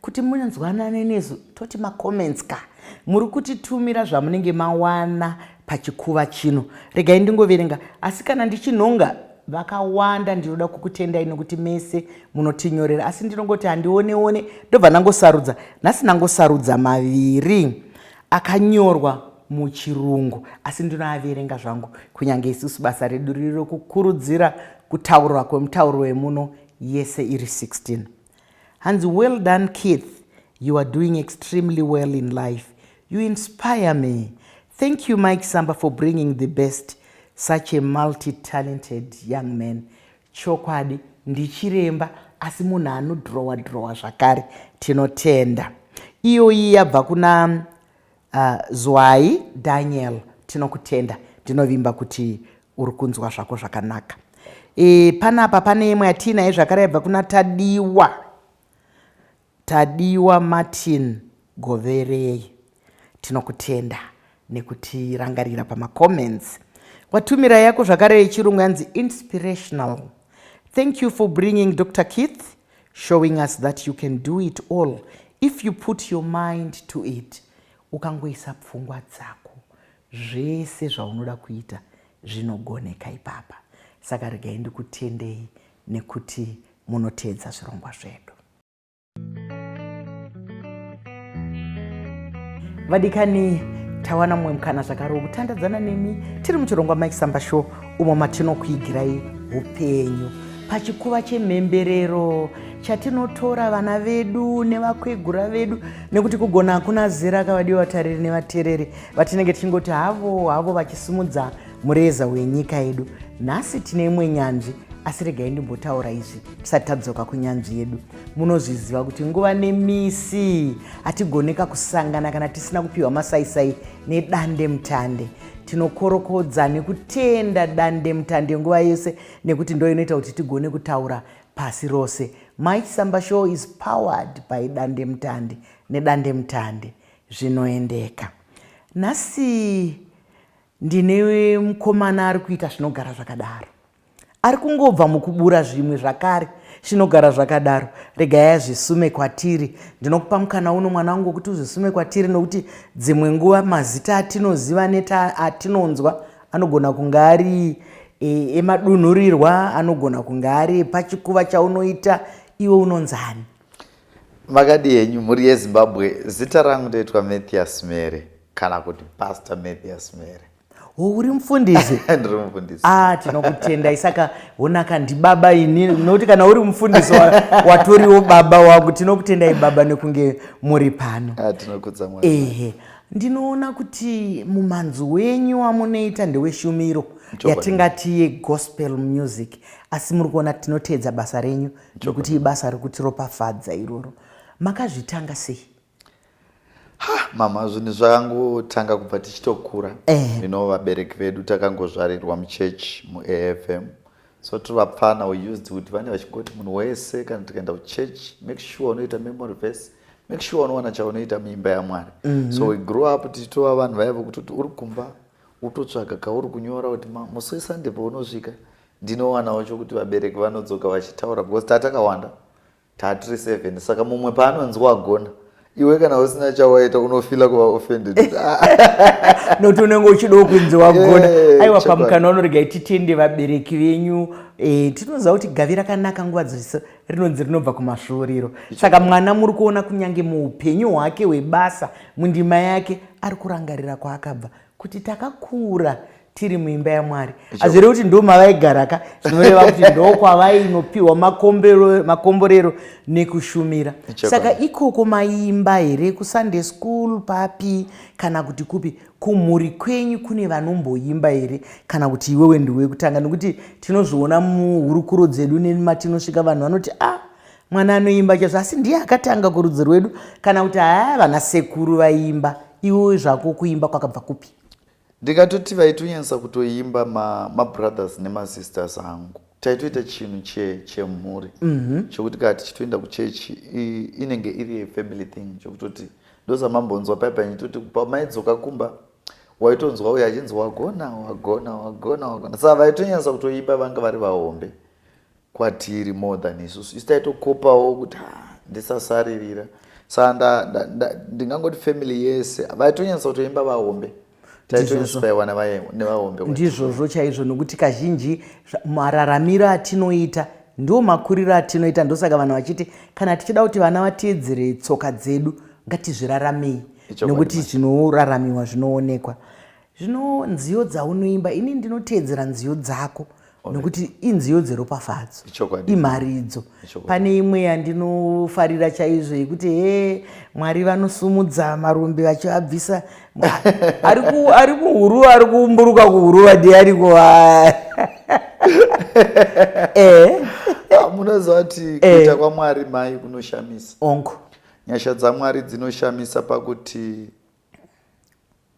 Kuti munzwanane nesu toti ma comments ka. Muri kutitumira zvamunenge mawana pachikuva chino. Regai ndingoverenga asi kana ndichinhonga vakawanda ndinoda kukutendai nekuti mese munotinyorera asi ndinongoti handione one ndobva ndangosarudza nhasi ndangosarudza maviri akanyorwa muchirungu asi ndinoaverenga zvangu kunyange isusu basa redu riri rokukurudzira kutaurwa kwemutauro wemuno yese iri 16 Hanzi well done Keith you are doing extremely well in life you inspire me thank you Mike Samba for bringing the best such a multi talented young man chokwadi ndichiremba asi munhu anodrowa drowa zvakare tinotenda iyoyi yabva kuna Ahh Zwayi Daniel tinokutenda ndinovimba kuti uri kunzwa zvako zvakanaka Ehh panapa pane imwe yatiinayo zvakare yaibva kuna Tadiwa Tadiwa Martin Goverei tinokutenda nekutirangarira pama comments watumira yako zvakare yechirungu yanzi inspirational Thank you for bringing Doctor Keith Showing us that you can do it all if you put your mind to it. Ukangoisa pfungwa dzako, zvese zvaunoda kuita zvinogoneka ipapa. Saka regai ndikutendei nekuti munoteedza zvirongwa zvedu. vadikani tawana mumwe mukana zvakare wekutandadzana nemi tiri muchirongwa mike samba show umo matinokuigirai upenyu pachikuva chemhemberero chatinotora vana vedu nevakwegura vedu nekuti kugona hakuna zera akavadiwa vatariri nevatereri vatinenge tichingoti havo havo vachisimudza mureza wenyika yedu nhasi tine imwe nyanzvi asi regai ndimbotaura izvi tisati tadzoka kunyanzvi yedu munozviziva kuti nguva nemisi hatigoneka kusangana kana tisina kupiwa masaisai nedande mutande tinokorokodza nekutenda dande mutande nguva yese nekuti ndo inoita kuti tigone kutaura pasi rose my samba show is powered by dande mutande nedande mutande zvinoendeka nhasi ndine mukomana ari kuita zvinogara zvakadaro Ari kungobva mukubura zvimwe zvakare chinogara zvakadaro regai azvisume kwatiri ndinokupa mukana uno mwana wangu wekuti uzvisume kwatiri nokuti dzimwe nguva mazita atinoziva neta atinonzwa anogona kunge ari e, emadunhurirwa anogona kunge ari pachikuva chaunoita iwe unonzani makadi yenyu mhuri yezimbabwe zita rangu ndoitwa mathias mere kana kuti pastor mathias mere Oh, uri mufundisi ndiri mufundisi ah tinokutendai saka onaka ndibaba ini nokuti kana uri mufundisi wa- watoriwo baba wako tinokutendai baba nekunge muri pano Ah, tinokudza mwari ehe ndinoona kuti mumanzi wenyu wamunoita ndeweshumiro Chokwadi. yatingati yegospel music asi muri kuona tinoteedza basa renyu nekuti ibasa rikutiropafadza iroro makazvitanga sei Ha, mama zvinhu zvakangotanga kubva tichitokura Eh. you know vabereki vedu takangozvarirwa muchechi muafm so tiri vapfana we used kuti vane vachingoti munhu wese kana tikaenda kuchechi make sure unoita memory verse make sure unowana chaunoita muimba yamwari so we grew up tichitova vanhu vaya vokuti kuti uri kumba utotsvaga kauri kunyora kuti "Ma, musi wesunday paunosvika ndinowanawo chokuti vabereki vanodzoka vachitaura because tatakawanda Taa tiri seven saka mumwe paanonzi wagona iwe kana usina chawaita unofila kuva offended noti unenge uchidawo kunzi wagona eh, aiwa pamukana unorega ititende vabereki venyu eh, tinoziva kuti gavi rakanaka nguva dzose rinonzi rinobva kumasvuuriro saka mwana muri kuona kunyange muupenyu hwake hwebasa mundima yake ari kurangarira kwaakabva kuti takakura tiri muimba yaMwari hazvire kuti ndo mavaigara ka zvinoreva kuti ndokwavainopiwa makomborero nekushumira saka ikoko maimba here kusunday school papi kana kuti kupi kumhuri kwenyu kune vanomboimba here kana kuti iwewe ndiwe kutanga nekuti tinozviona muhurukuro dzedu nematinosvika vanhu vanoti a ah, Mwana anoimba chaizvo asi ndiye akatanga kurudzi rwedu kana kuti haa vana sekuru vaimba iwoyo zvako kuimba kwakabva kupi ndingatoti vaitonyanyisa kutoimba mabrothers ma nemasisters angu taitoita chinhu chemhuri che mm -hmm. chokuti kaa tichitoenda kuchechi inenge iri yefamily thing chokutoti ndozamambonzwa paya paya nditoti pamaidzoka kumba waitonzwa uyo achinzi wagona wagona wagona wagona saka vaitonyanyisa kutoimba vanga vari vahombe kwatiri more than isusu isu taitokopawo kuti ha ndisasaririra saa ndingangoti family yese vaitonyanyisa kutoimba vahombe taitonyanyisopaiwa nevahombe ndizvozvo chaizvo nokuti kazhinji mararamiro atinoita ndiwo makuriro atinoita ndosaka vanhu vachiti kana tichida kuti vana vateedzere tsoka dzedu ngatizviraramei nokuti zvinoraramiwa zvinoonekwa Zvino nziyo dzaunoimba ini ndinoteedzera nziyo dzako nokuti inziyo dzeropafadzo imharidzo pane imwe yandinofarira chaizvo yekuti he mwari vanosumudza marumbi vachivabvisa ari kuhuru ari kumburuka kuhuruva ndi ariko eh. ah, munoziva kuti eh. kuita kwamwari mai kunoshamisa onko nyasha dzamwari dzinoshamisa pakuti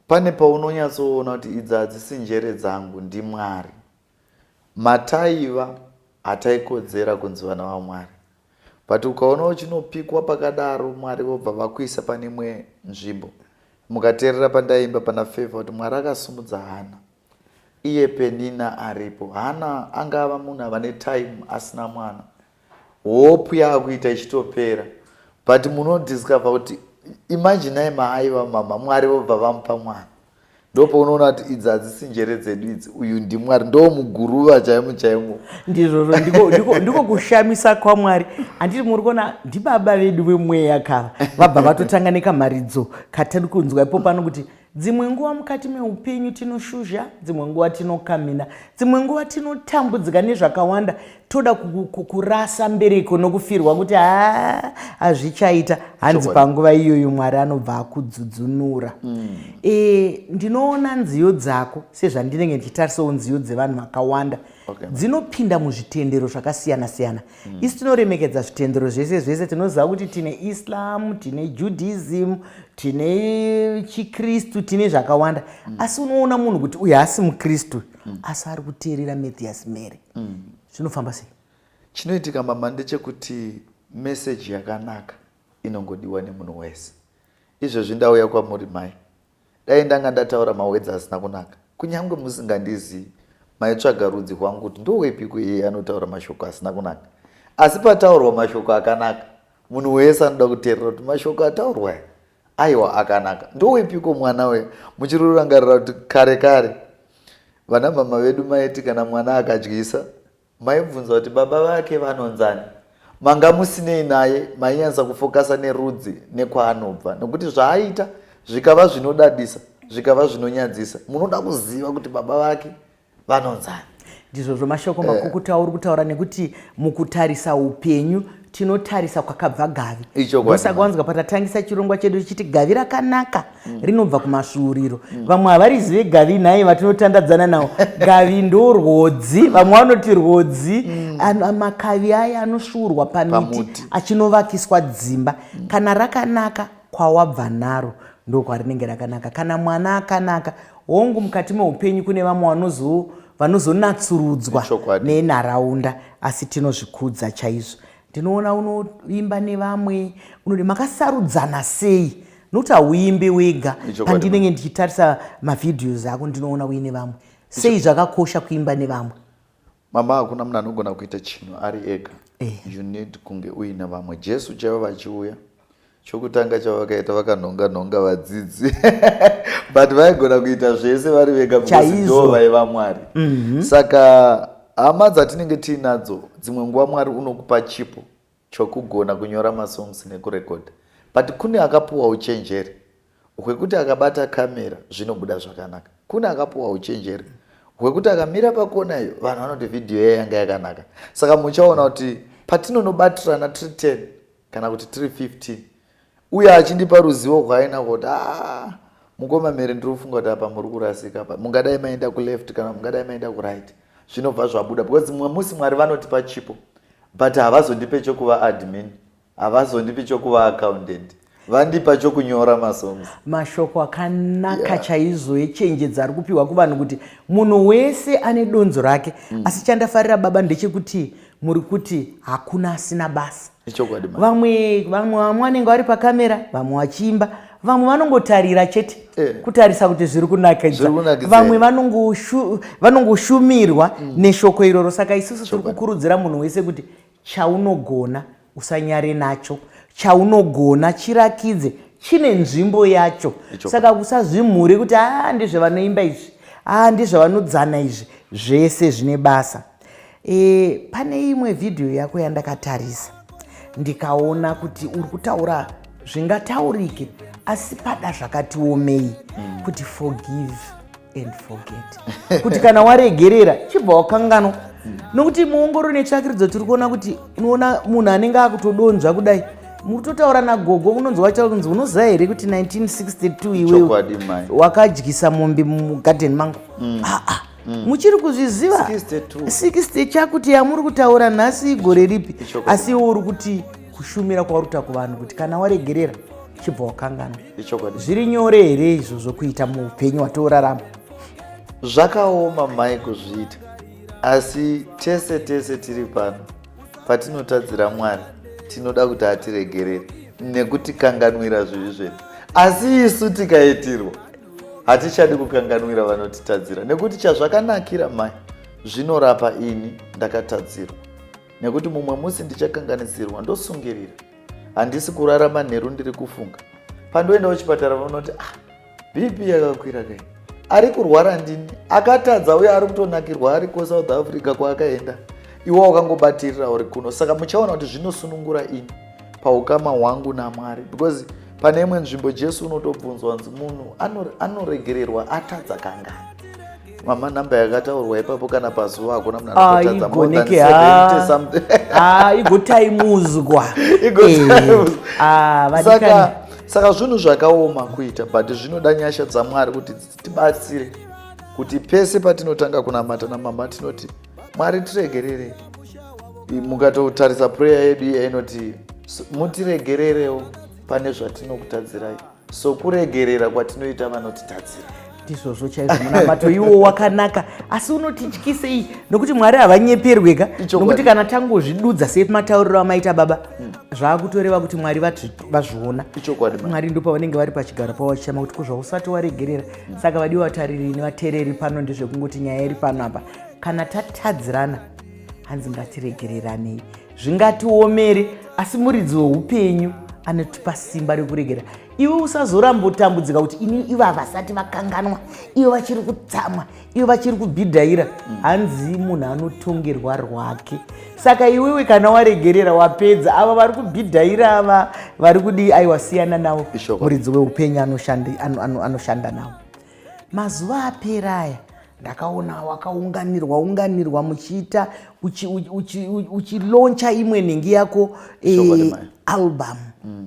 pane paunonyatsoona kuti idzi hadzisi njere dzangu ndimwari mataiva hataikodzera kunzi vana vamwari but ukaona uchinopikwa pakadaro mwari vobva vakuisa pane imwe nzvimbo mukateerera pandaimba pana favor kuti mwari akasimudza hana Iye Penina aripo Hana anga ava munhu ava netime asina mwana hope yaakuita ichitopera but munodiscover kuti imaginai maaiva mama mwari vobva vamupa mwana ndopaunoona kuti idzi hadzisi njere dzedu idzi uyu ndimwari ndo muguruva chaimo chaimo ndizvozvo ndiko kushamisa kwamwari handiti muri kuona ndibaba vedu vemweya kava vabva vatotanga nekamharidzo katiri kunzwa ipo pano kuti Dzimwe nguva mukati meupenyu tinoshuzha, dzimwe nguva tinokamhina, dzimwe nguva tinotambudzika nezvakawanda, toda kurasa mbereko nokufirwa kuti haa hazvichaita hanzi panguva iyoyo Mwari anobva akudzudzunura. Mm. E, ndinoona nziyo dzako sezvandinenge ndichitarisawo nziyo dzevanhu vakawanda okay, dzinopinda muzvitendero zvakasiyana siyana mm. isi tinoremekedza zvitendero zvese zvese tinoziva kuti tine islam tine judaism tine chikristu tine zvakawanda mm. asi unoona munhu kuti uyu haasi mukristu mm. asi ari kuteerera mathias mary mm. zvinofamba sei chinoitika mama ndechekuti meseji yakanaka inongodiwa nemunhu wese izvezvi ndauya kwamuri mai Dai ndanga ndataura mawedza asina kunaka kunyangwe musingandizivi maitsvaga rudzi rwangu kuti ndowepiko iyeye anotaura mashoko asina kunaka. Asi pataurwa mashoko akanaka munhu wese anoda kuteerera kuti mashoko ataurwa aya aiwa akanaka. Ndowepiko mwana uya? Muchiri kurangarira kuti kare kare vanamama vedu maiti kana mwana akadyisa Maibvunza kuti baba vake vanonzani? Manga musinei naye mainyansa kufokasa nerudzi nekwaanobva nokuti zvaaita zvikava zvinodadisa zvikava zvinonyadzisa munoda kuziva kuti baba vake vanonzani. Ndizvozvo mashoko makukutu auri kutaura nekuti mukutarisa upenyu tinotarisa kwakabva gavi ndosaka wanzwa patatangisa chirongwa chedu tichiti gavi rakanaka mm. rinobva kumasvuuriro mm. vamwe havarizive gavi nhai vatinotandadzana nawo gavi ndo rwodzi vamwe vanoti rwodzi mm. makavi aya anosvuurwa pamiti achinovakiswa dzimba kana rakanaka kwawabva naro ndokwarinenge rakanaka kana mwana akanaka hongu mukati meupenyu kune vamwe vanozo vanozonatsurudzwa nenharaunda asi tinozvikudza chaizvo ndinoona unoimba nevamwe unoti makasarudzana sei nokuti hauimbe wega pandinenge ndichitarisa mavhidhios ako ndinoona uine vamwe sei zvakakosha kuimba nevamwe Mama hakuna munhu anogona kuita chinhu ari ega. Eh. You need kunge uine vamwe. Jesu chaivo vachiuya chokutanga chavakaita vakanhonga nhonga vadzidzi but vaigona kuita zvese vari vega bcausedo vaiva mwari mhm. saka hama dzatinenge tiinadzo dzimwe nguva mwari unokupa chipo chokugona kunyora masongs nekurecorder but kune akapuwa uchenjeri hwekuti akabata camera zvinobuda zvakanaka kune akapuwa uchenjeri hwekuti akamira pakona iyo vanhu vanoti video iya yanga yakanaka saka muchaona kuti patinonobatirana tiri 10 kana kuti tiri 15 uye achindipa ruzivo rwaainarwo kuti aa mukoma mhere ndiri kufunga kuti apa muri kurasika apa mungadai maenda kuleft kana mungadai maenda kuright zvinobva zvabuda because mumwe musi mwari vanotipa chipo but havazondipe chokuva admin havazondipi chokuva accountant vandipa chokunyora masongs mashoko akanaka yeah. chaizo echenjedzo ari kupiwa kuvanhu kuti munhu wese ane donzo rake mm. asi chandafarira baba ndechekuti muri kuti hakuna asina basa ichokwadi vamwe vamwe vamwe vanenge vari pakamera vamwe vachiimba vamwe vanongotarira chete eh. kutarisa kuti zviri kunakidza vamwe vanongoshumirwa mm. neshoko iroro saka isusu tiri kukurudzira munhu wese kuti chaunogona usanyare nacho chaunogona chirakidze chine nzvimbo yacho saka kusazvimhure kuti aa ah, ndizvevanoimba izvi aa ah, ndizvevanodzana izvi zvese zvine basa E, pane imwe vhidhiyo yako yandakatarisa ndikaona kuti uri kutaura zvingataurike asi pada zvakati omei mm. kuti forgive and forget kuti kana waregerera chibva wakanganwa mm. nokuti muongororo netsvakiridzo tiri kuona kuti unoona munhu anenge akutodonzva kudai mutotaura nagogo unonzi wacho kunzi unoziva here kuti 1962 iwewe wakadyisa mombe mugadheni mangu mm. ah, ah. Mm. muchiri kuzviziva 60 chakuti yamuri kutaura nhasi igore ripi asi iwo uri kuti kushumira kwaurikuta kuvanhu kuti kana waregerera chibva wakangana zviri nyore here izvo zvokuita muupenyu watiorarama zvakaoma mai kuzviita asi tese tese tiri pano patinotadzira mwari tinoda kuti atiregerere nekutikanganwira zvivi zvedu asi isu tikaitirwa hatichadi kukanganwira vanotitadzira nekuti chazvakanakira mai zvinorapa ini ndakatadzirwa nekuti mumwe musi ndichakanganisirwa ndosungirira handisi kurara manheru ndiri kufunga pandoenda kuchipatara vanoti ah bp yakakwira kai ari kurwara ndini akatadza uye ari kutonakirwa ari kusouth africa kwaakaenda iwe wakangobatirira uri kuno saka muchaona kuti zvinosunungura ini paukama hwangu namwari because pane imwe nzvimbo jesu unotobvunzwa hanzi munhu anoregererwa atadza kangani mama number yakataurwa ipapo kana pazuva hakuna munhu ah, anotadza more than 70 something ah igotaimudzwa igotaimudzwa eh, ah vadikani saka zvinhu zvakaoma kuita but zvinoda nyasha dzamwari kuti tibatsire kuti pese patinotanga kunamata namama tinoti mwari tiregererei mukatotarisa prayer yedu iya inoti mutiregererewo pane zvatinokutadzirai so kuregerera kwatinoita vanotitadzira ndizvozvo chaizvo munamato iwo wakanaka asi unotityisei nokuti mwari havanyeperweka nokuti kana tangozvidudza se matauriro amaita baba hmm. zvaakutoreva kuti mwari vazviona mwari ndo pavanenge vari pachigaro pavo vachichama kuti kuzvausati waregerera hmm. saka vadiwa vatariri nevatereri pano ndezvekungoti nyaya iri pano apa kana tatadzirana hanzi ngatiregereranei zvingatiomere asi muridzi weupenyu anotipa simba rekuregera iwe usazoramba utambudzika kuti ini ivo havasati vakanganwa ivo vachiri kutsamwa ivo vachiri kubhidhaira hanzi munhu anotongerwa rwake saka iwewe kana waregerera wapedza ava vari kubhidhaira ava vari kudii aiwa siyana navo muridzi weupenyu anoshanda navo mazuva apera aya ndakaona wakaunganirwa unganirwa muchiita uchiloncha imwe nhingi yako eh, album mm.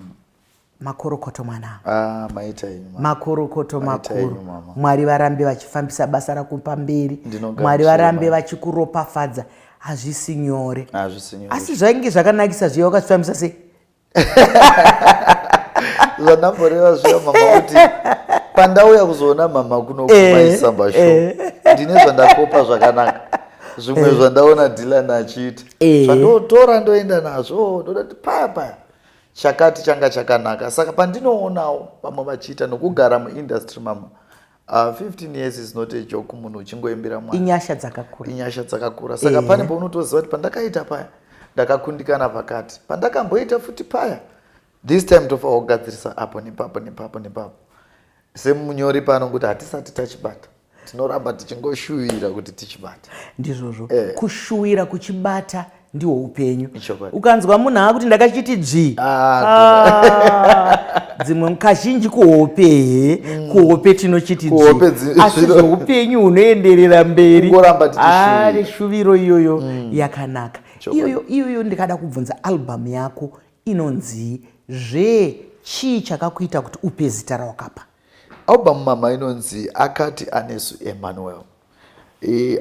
makorokoto mwana ah, makorokoto makuru mwari varambe vachifambisa basa rako pamberi mwari varambe vachikuropafadza hazvisi nyore asi zvainge zvakanakisa zviya wakazvifambisa sei zvandamboreva zviya mama kuti pandauya kuzoona mama kunokumaisamba eh, sho eh. ndine zvandakopa zvakanaka zvimwe eh. zvandaona dilan achiita zvandotora ndoenda nazvo ndoda kuti paya paya chakati changa chakanaka saka pandinoonawo vamwe vachiita nokugara muindustry mama Uh, ah, 15 years is not a joke munhu uchingoimbira mwana inyasha dzakakura inyasha dzakakura saka eh. pane paunotoziva kuti pandakaita paya ndakakundikana pakati pandakamboita futi paya this time tofawa kugadzirisa apo nepapo nepapo nepapo semunyori pano kuti hatisati tachibata tinoramba tichingoshuvira kuti tichibata ndizvozvo eh. kushuwira kuchibata ndihwo upenyu ukanzwa munhu akuti ndakachiti dzvi ah, ah, dzimwe kazhinji kuhope he mm. kuhope tinochiti dzvi asi zvoupenyu hunoenderera mberi ari ah, shuviro iyoyo mm. yakanaka iyoyo iyoyo ndikada kubvunza albhamu yako inonzii zve chii chakakuita kuti upe zita rawakapa albhamu mama inonzi akati anesu emmanuel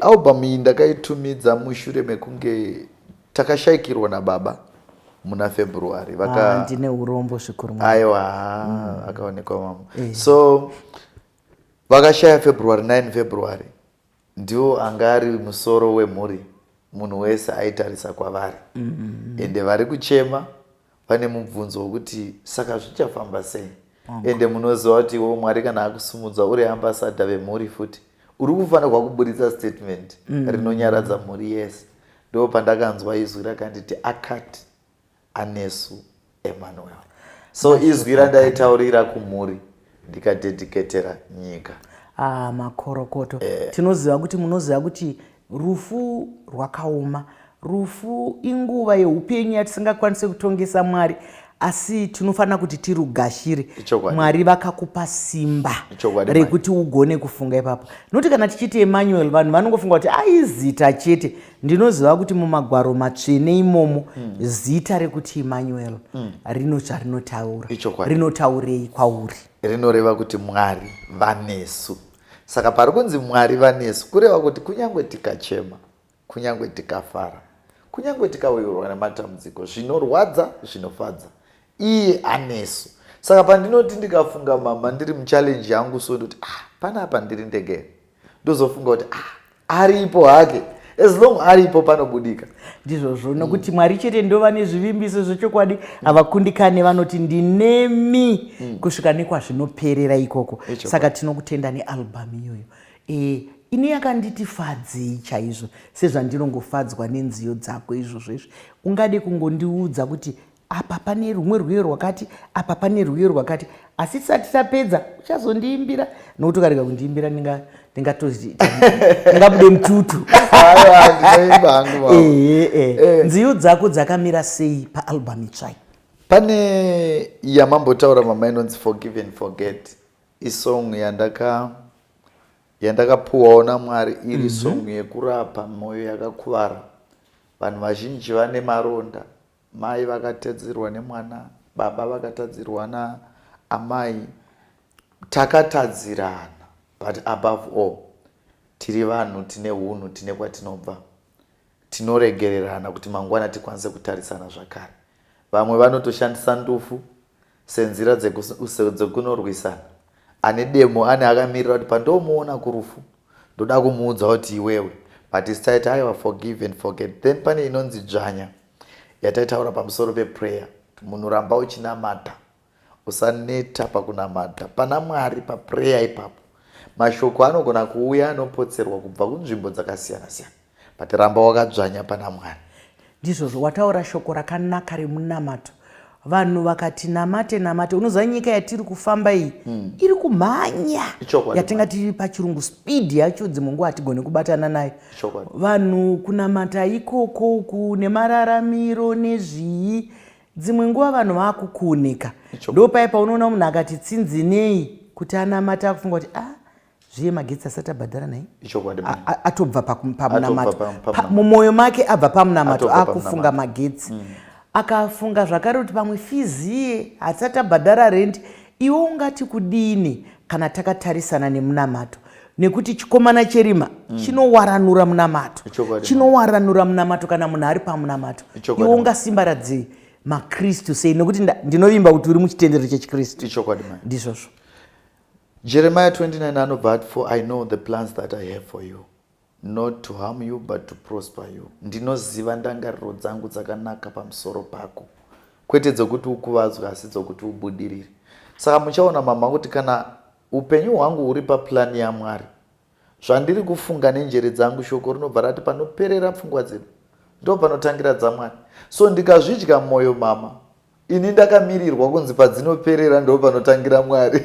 Album iyi ndakaitumidza mushure mekunge takashaikirwa nababa muna February. Vaka... Ah, ndine urombo zvikuru mwana. Aiwa, mm. akaonekwa mama. Eh. So vakashaya February 9 February ndiwo anga ari musoro wemhuri munhu wese aitarisa kwavari mm -hmm. ende vari kuchema pane mubvunzo wekuti saka zvichafamba sei ende munoziva kuti iwo mwari kana akusumudza uri ambasada vemhuri futi uri kufanirwa kuburitsa statement mm. rinonyaradza mhuri yese ndo pandakanzwa izwi rakanditi akati anesu emmanuel so izwi randaitaurira kumhuri ndikadedicatera nyika ah, makorokoto eh. tinoziva kuti munoziva kuti rufu rwakaoma rufu inguva yeupenyu yatisingakwanise kutongesa mwari asi tinofanira kuti tirugashire mwari vakakupa simba rekuti ugone kufunga ipapo nokuti kana tichiita emanuel vanhu vanongofunga kuti aizita chete Ndinoziva kuti mumagwaro matsvene imomo mm. zita rekuti Emmanuel mm. rino charinotaura. Rinotaurei kwauri? Rinoreva kuti Mwari vanesu. Saka pari kunzi Mwari vanesu kureva kuti kunyange tikachema, kunyange tikafara, kunyange tikawirwa nematambudziko, zvinorwadza, zvinofadza, iye anesu. Saka pandinoti ndikafunga mama ndiri muchallenge yangu so ndoti ah, panapa ndiri ndege ndozofunga kuti ah, aripo hake as long aripo panobudika ndizvozvo nokuti mm. mwari chete ndova nezvivimbiso zvechokwadi havakundikane mm. vanoti ndinemi mm. kusvika nekwazvinoperera ikoko saka tinokutenda nealbhamu iyoyo e, ini yakanditi fadzei chaizvo sezvandinongofadzwa nenziyo dzako izvozvo izvi ungade kungondiudza kuti apa pane rumwe rwiyo rwakati apa pane rwiyo rwakati asi tisati tapedza uchazondiimbira nokuti ukarega kundiimbira ndingabude mututu eh, eh. eh. nziyo dzako dzakamira sei paalbum itsvai pane yamambotaura mama inonzi forgive and forget isong yandaka yandakapuwawo namwari iri mm -hmm. song yekurapa mwoyo yakakuvara vanhu vazhinji vane maronda Mai vakatadzirwa nemwana baba vakatadzirwa na amai takatadzirana but above all tiri vanhu tine hunhu tine kwatinobva tinoregererana kuti mangwana tikwanise kutarisana zvakare vamwe vanotoshandisa ndufu Senzira dzeku, dzekunorwisana. Ane demo ane akamirira kuti pandomuona kurufu ndoda kumuudza kuti iwewe but is taita aiwa forgive and forget then pane inonzi dzvanya yataitaura pamusoro peprayer munhu ramba uchinamata usaneta pakunamata pana mwari paprayer ipapo mashoko anogona kuuya anopotserwa kubva kunzvimbo dzakasiyana siyana But ramba wakadzvanya pana Mwari. Ndizvozvo wataura shoko rakanaka remunamato vanhu vakati namate namate unoziva nyika yatiri kufamba iyi mm. iri kumhanya yatingati pachirungu speed yacho dzimwe nguva hatigone kubatana nayo vanhu kunamata ikoko uku nemararamiro nezvii dzimwe nguva vanhu vaakukuoneka ndo paye paunoona munhu akati tsinzinei kuti anamata akufunga kuti ah zviye magetsi asati abhadhara nhai ichokwadi mai A- a- atobva paku- pamunamato Atobva pa- Pa- pamunamato. mumwoyo make abva pamunamato Atobva akufunga pamunamato. magetsi akafunga zvakare kuti pamwe fiziye hatisati abhadhara rendi iwe ungati kudini kana takatarisana nemunamato nekuti chikomana cherima chinowaranura munamato Ichokwadi. chinowaranura munamato kana munhu ari pamunamato Ichokwadi. iwe ungasimbaradzei makristu sei nekuti nda- ndinovimba kuti uri muchitendero chechikristu ichokwadi mai ndizvozvo Jeremiah 29 anobva ati for I know the plans that I have for you not to harm you but to prosper you ndinoziva ndangariro dzangu dzakanaka pamusoro pako kwete dzokuti ukuvadzwe asi dzokuti ubudirire saka muchaona mama kuti kana upenyu hwangu huri paplani yamwari zvandiri kufunga nenjere dzangu shoko rinobva rati panoperera pfungwa dzedu ndo panotangira dzamwari so ndikazvidya mwoyo mama Ini ndakamirirwa kunzi padzinoperera ndo panotangira Mwari.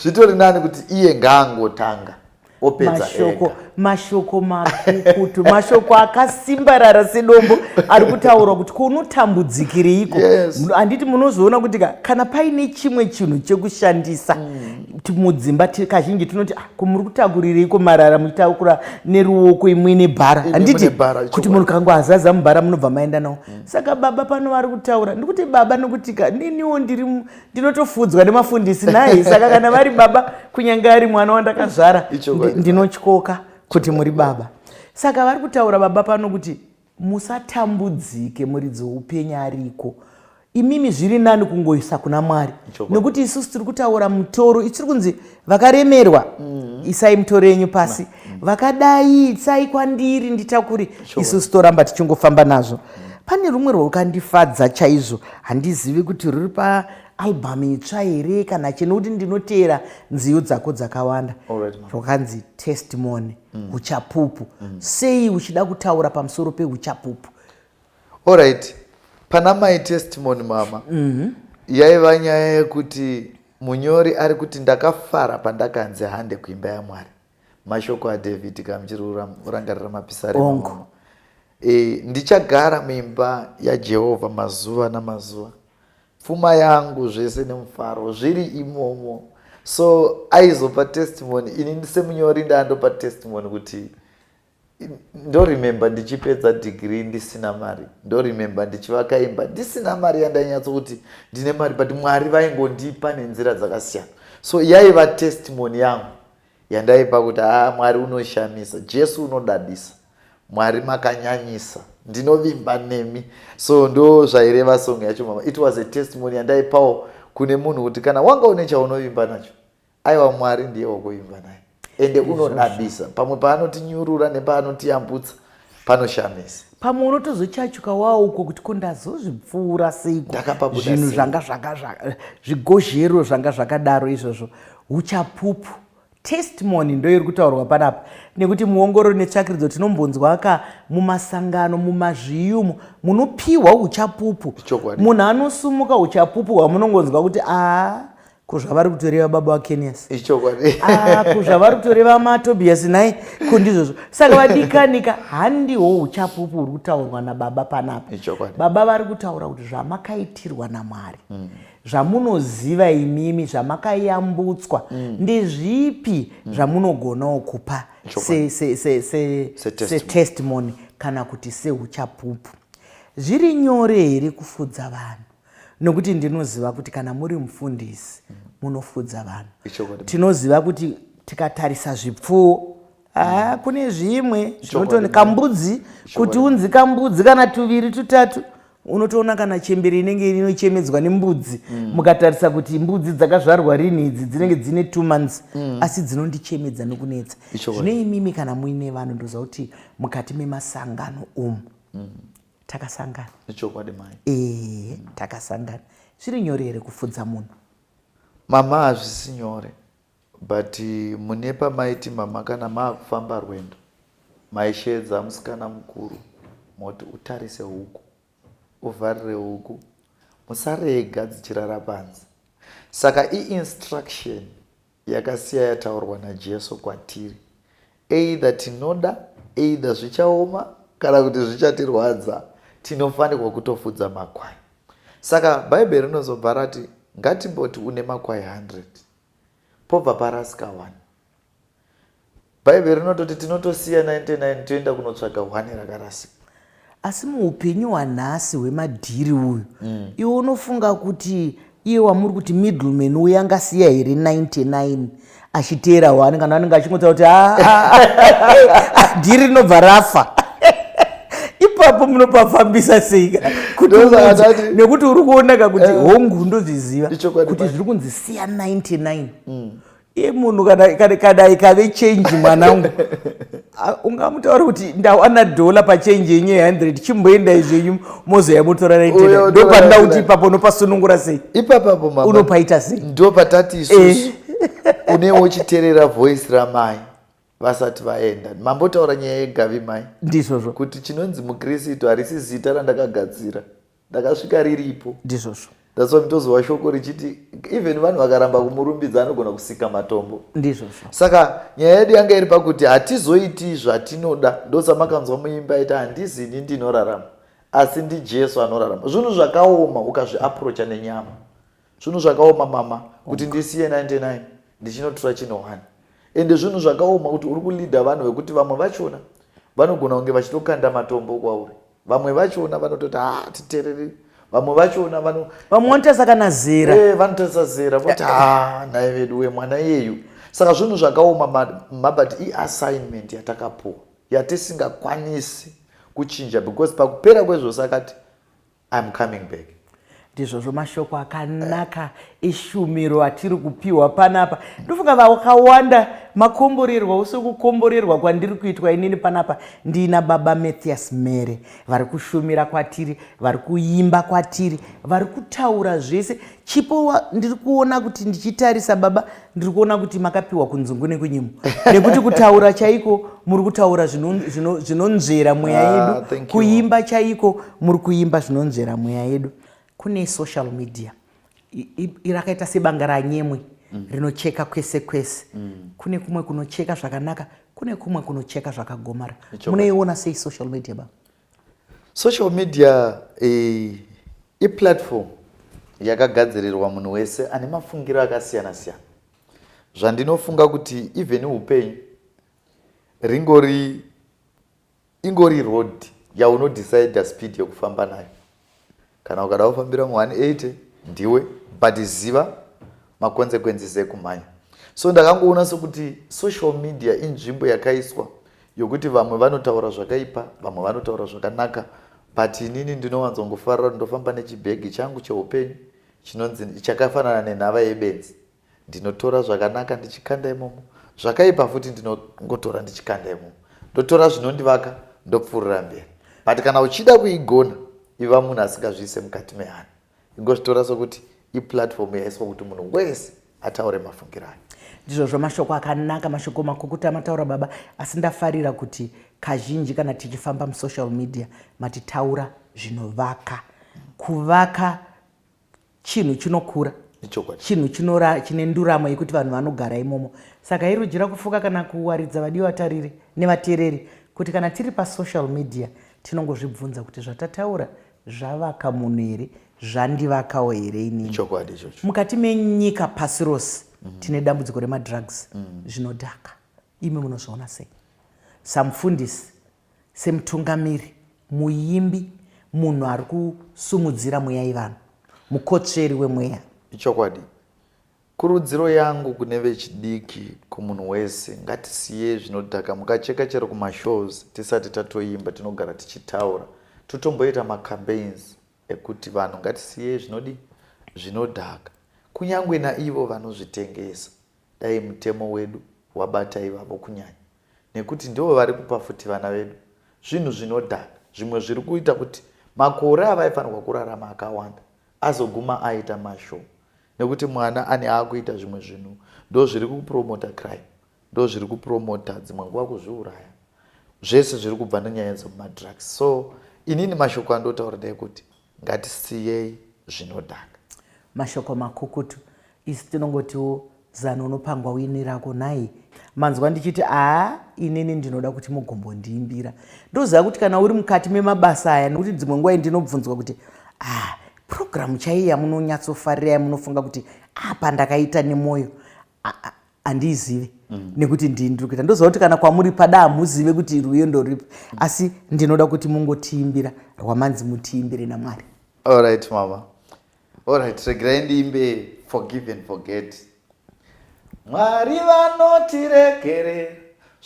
Zvitori nani kuti iye ngaangotanga opedza mashoko ega. mashoko makukutu mashoko akasimbarara sedombo ari kutaurwa kuti kunotambudzikireiko Yes. Muno- handiti munozoona kuti ka- kana paine chimwe chinhu chekushandisa ti- mudzimba ti- kazhinji tinoti "Ah, ko muri kutakurireiko marara muchitakura neruoko imwe nebhara Imwe handiti nebhara, kuti chokwadi. munhu kangu azaza mubhara munobva maenda nawo saka baba pano vari kutaura ndikuti baba nokutika niniwo ndiri ndinotofudzwa nemafundisi nai saka kana vari baba kunyange ari mwana wandakazvara ndinotyoka kuti muri baba saka vari kutaura baba pano kuti musatambudzike muridzi woupenyu ariko imimi zviri nani kungoisa kuna mwari nekuti isusu tiri kutaura mutoro ichiri kunzi vakaremerwa mm. isai muto renyu pasi mm. vakadai itsai kwandiri nditakuri sure. isu sitoramba tichingofamba nazvo mm. pane rumwe rwakandifadza chaizvo handizivi kuti ruri paalbum itsva here kana chino kuti ndinoteera nziyo dzako dzakawanda rwakanzi testimony mm. uchapupu mm. sei uchida kutaura pamusoro peuchapupu Alright, pana my testimony mama yaiva nyaya yekuti munyori ari kuti ndakafara pandakanzi hande kuimba yaMwari. Mashoko aDavid kana muchiri kurangarira mapisarema Hongu. mama. E, ndichagara muimba yaJehovha mazuva namazuva. Pfuma yangu zvese nemufaro zviri imomo. So aizopa testimony ini semunyori ndandopa testimony kuti ndoremember ndichipedza degree ndisina mari ndoremember ndichivaka imba ndisina mari yandainyatso kuti ndine mari but mwari vaingondipa nenzira dzakasiyana so yaiva testimony yangu yandaipa kuti haa mwari unoshamisa jesu unodadisa mwari makanyanyisa ndinovimba nemi so ndo zvaireva song yacho mama it was a testimony yandaipawo kune munhu kuti kana wanga une chaunovimba nacho Aiwa Mwari ndiye wokuvimba naye ende unodadisa pamwe paanotinyurura nepaanotiyambutsa panoshamisa pamwe unotozochachuka wawo uko kuti ko ndazozvipfuura seiko Ndakapabuda zvinhu sei? zvanga zvaka zvaka- zvigozhero zvanga zvakadaro izvozvo uchapupu testimony ndoiri kutaurwa panapa nekuti muongorori netsvakiridzo tinombonzwa ka mumasangano mumazviyumu munopiwa uchapupu Ichokwadi. munhu anosumuka uchapupu hwamunongonzwa kuti aa ko zvavari kutoreva baba vakenias ichokwadi ah, ko zvavari kutoreva matobias nhai ko ndizvozvo saka vadikanika handiho uchapupu huri kutaurwa nababa panapa baba vari kutaura kuti zvamakaitirwa namwari mm. zvamunoziva imimi zvamakayambutswa mm. ndezvipi mm. zvamunogonawo kupa setestimony kana kuti seuchapupu zviri nyore here kufudza vanhu nokuti ndinoziva kuti kana muri mufundisi munofudza vanhu tinoziva kuti tikatarisa zvipfuwo Ah, kune zvimwe zvinotoni kambudzi kuti unzi kambudzi kana tuviri tutatu unotoona kana chembere inenge inochemedzwa nembudzi mm. mukatarisa kuti mbudzi dzakazvarwa rini idzi dzinenge dzine two months mm. asi dzinondichemedza nokunetsa zvine imimi kana muine vanhu ndoziva kuti mukati memasangano umu mm. takasangana ichokwadi mai ee mm. takasangana zviri nyore here kufudza munhu mama hazvisi nyore but eh, mune pamaiti mama kana maakufamba rwendo maisheedza musikana mukuru moti utarise huku uvharire huku musarega dzichirara panze saka iinstruction yakasiya yataurwa naJesu kwatiri. Either tinoda, either zvichaoma kana kuti zvichatirwadza, tinofanirwa kutofudza makwai. Saka Bhaibheri rinozobva rati, ngatimboti une makwai 100 pobva parasika one Bhaibheri rinototi tinotosiya 99 toenda kunotsvaga hwani rakarasika. Asi muupenyu hwanhasi hwemadhiri uyu mm. iwe unofunga kuti iye wamuri kuti middleman uye angasiya here 99 achiteera hwani kana anenge achingotsa kuti ah, ah, ah, dhiri rinobva rafa ipapo munopafambisa sei nekuti uri kuonaka kuti eh. hongu ndozviziva kuti zviri kunzi siya 99 mm. iye munhu kana ikave change mwanangu ungamutaura kuti ndawana dhola pachange yenyu ye100 chimboendai zvenyu mozoya mutora naitena ndopanda kuti ipapo unopasunungura sei ipapapo mama unopaita sei ndo patati isusu eh. unewo uchiterera voice ramai vasati vaenda mambotaura nyaya yegavi mai ndizvozvo kuti chinonzi mukristu harisi zita randakagadzira ndakasvika riripo ndizvozvo that's why mtozova shoko richiti even vanhu vakaramba kumurumbidza anogona kusika matombo ndizvozvo saka nyaya yedu yanga iri pakuti hatizoiti zvatinoda ndosamakanzwa muimba aita handizi ini ndinorarama asi ndijesu anorarama zvinhu zvakaoma ukazviaprocha nenyama Zvinhu zvakaoma mama kuti ndisiye 99 ndichinotura chino 1 ende zvinhu zvakaoma kuti uri kuleader vanhu vekuti vamwe vachona vanogona kunge vachitokanda matombo kwauri vamwe vachona vanototi hatitereri ah, vamwe vachona vano vamwe vanotarisa kana zera eh, vanotarisa zera voti ha ah, nhai vedu wemwana iyeyu saka zvinhu zvakaoma mabati iassignment yatakapuwa yatisingakwanisi kuchinja because pakupera kwezvose akati I'm coming back. Ndizvozvo mashoko akanaka eshumiro atiri kupiwa panapa. Ndofunga vakawanda makomborerwa ose kukomborerwa kwandiri kuitwa inini panapa ndiina baba Mathias Mere vari kushumira kwatiri, vari kuimba kwatiri, vari kutaura zvese Chipo wa, ndiri kuona kuti ndichitarisa baba ndiri kuona kuti makapiwa kunzungu nekunyimo nekuti kutaura chaiko muri kutaura zvinonzvera mweya ah, yedu ah, kuimba chaiko muri kuimba zvinonzvera mweya yedu kune social media rakaita sebanga ranyemwe mm. rinocheka kwese kwese mm. kune kumwe kunocheka zvakanaka kune kumwe kunocheka zvakagomara munoiona sei social media baba Social media iplatform yakagadzirirwa munhu wese ane mafungiro akasiyana siyana zvandinofunga kuti even upenyu ringori ingori road yaunodecide speed yekufamba nayo Kana ukada kufambira mu 180 ndiwe but ziva ma consequences ekumhanya. So ndakangoona sokuti social media inzvimbo yakaiswa yokuti vamwe vanotaura zvakaipa vamwe vanotaura zvakanaka but inini ndinowanzongofarira kuti ndofamba nechibhegi changu cheupenyu chinonzi chakafanana nenhava yebenzi Ndinotora zvakanaka ndichikanda imomo, zvakaipa futi ndinongotora ndichikanda imomo. Ndotora zvinondivaka ndopfuurira mberi. But kana uchida kuigona, iva munhu asingazviise mukati mehana. Ingozvitora sokuti iplatform yaiswa kuti munhu wese ataure mafungiro ake. Ndizvozvo mashoko akanaka mashoko makukutu amataura baba asi ndafarira kuti kazhinji kana tichifamba musocial media matitaura zvinovaka kuvaka chinhu chinokura chinhu chinora chine nduramo yekuti vanhu vanogara imomo saka irujira kufuka kana kuwaridza vadii vatariri nevateereri kuti kana tiri pasocial media tinongozvibvunza kuti zvatataura zvavaka munhu here zvandivakawo here inini mukati menyika pasi rose mm -hmm. tine dambudziko remadrugs mm -hmm. zvinodhaka imi munozviona sei samufundisi semutungamiri, muimbi, munhu ari kusumudzira mweya yevanhu, mukotsveri wemweya. Ichokwadi. Kurudziro yangu kune vechidiki, kumunhu wese, ngatisiyei zvinodhaka. Mukacheka chero kumashows tisati tatoimba tinogara tichitaura. Totomboita macampaigns ekuti vanhu ngatisiyei zvinodii? Zvinodhaka. Kunyangwe naivo vanozvitengesa dai mutemo wedu wabata ivavo kunyanya. nekuti ndivo vari kupa futi vana vedu zvinhu zvinodhaka zvimwe zviri kuita kuti makore avaifanirwa kurarama akawanda azoguma aita mashoma nekuti mwana ane aakuita zvimwe zvinhu ndo zviri kupromota crime ndo zviri kupromota dzimwe nguva kuzviuraya zvese zviri kubva nenyaya dzemumadrugs so inini mashoko andotaura ndeyekuti Ngatisiyei zvinodhaka. Mashoko makukutu isu tinongotiwo zano unopangwa wini rako nhai. Manzwa ndichiti aa inini ndinoda kuti mugombondiimbira ndoziva kuti kana uri mukati memabasa aya nekuti dzimwe nguva ndinobvunzwa kuti aa purogiramu chaiyi yamunonyatsofarira yamunofunga kuti apa ndakaita nemwoyo handiizive mm. nekuti ndini ndiri kuita ndoziva kuti kana kwamuri pada hamuzive kuti rwiyo ndoripi mm. asi ndinoda kuti mungotiimbira rwamanzi mutiimbire namwari allright mama allright regerai ndiimbe forgive and forget mwari vanotiregerera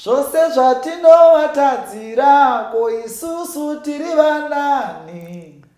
zvose zvatinovatadzira ko isusu tiri vanani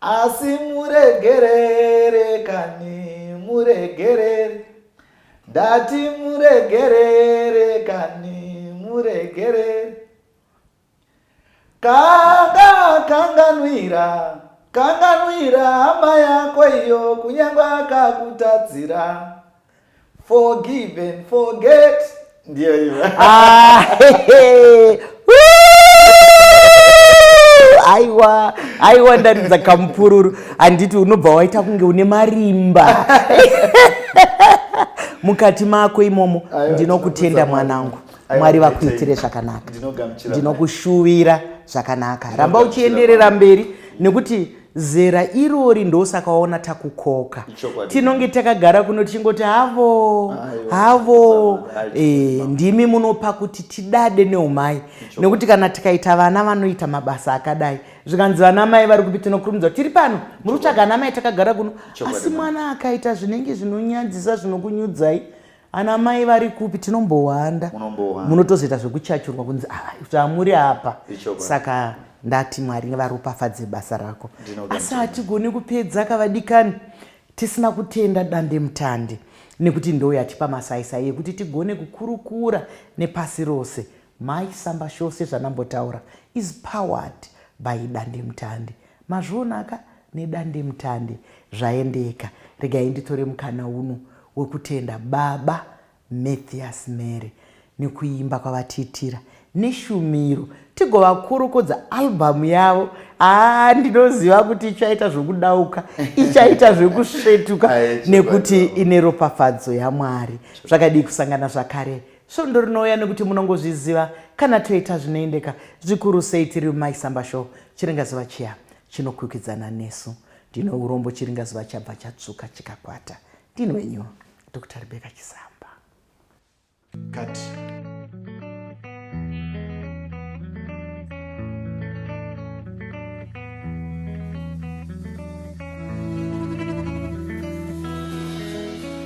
Asi muregerere kani muregerere ndati muregerere kani muregerere kanga kanganwira kanganwira hama yako iyo kunyangwe akakutadzira Forgive and forget. Ndiyo hiyo. Ah, hehe. aiwa aiwa ndaridza kamupururu handiti unobva waita kunge une marimba mukati mako imomo ndinokutenda mwanangu mwari vakuitire zvakanaka ndinokushuvira zvakanaka ramba uchienderera mberi nekuti zera irori ndosaka waona takukoka tinonge takagara kuno tichingoti havo havo e, ndimi munopa kuti tidade neumai nekuti kana tikaita vana vanoita mabasa akadai zvikanzi vana mai vari kupi tinokurumidza tiri pano muri kutsvaga ana mai takagara kuno asi mwana akaita zvinenge zvinonyadzisa zvinokunyudzai Ana mai vari kupi tinombohwanda. Munombohwanda. Munotozoita zvekuchachurwa kunzi ah zvamuri apa. Ichokwadi. Saka ndati Mwari varopafadze basa rako. Ndinoda Asi mutende. hatigoni kupedza kavadikani tisina kutenda dande mutande nekuti ndoo yatipa masaisai ekuti tigone kukurukura nepasi rose. Mai Samba Show sezvanambotaura is powered by dande mutande. Mazviona ka nedandemutande zvaendeka regai nditore mukana uno wekutenda baba Mathias Mary nekuimba kwavatiitira neshumiro tigovakurukudza album yavo haa ndinoziva kuti ichaita zvekudauka ichaita zvekusvetuka nekuti ine ropafadzo yamwari zvakadii kusangana zvakare svondo rinouya nekuti munongozviziva kana toita zvinoendeka zvikuru sei tiri mumaisamba show chiringazuva chiya Chinokwikwidzana nesu. Ndine urombo chiringa zuva chabva chatsvuka chikakwata. Ndini wenyu Doctor Rebecca Chisamba. Cut.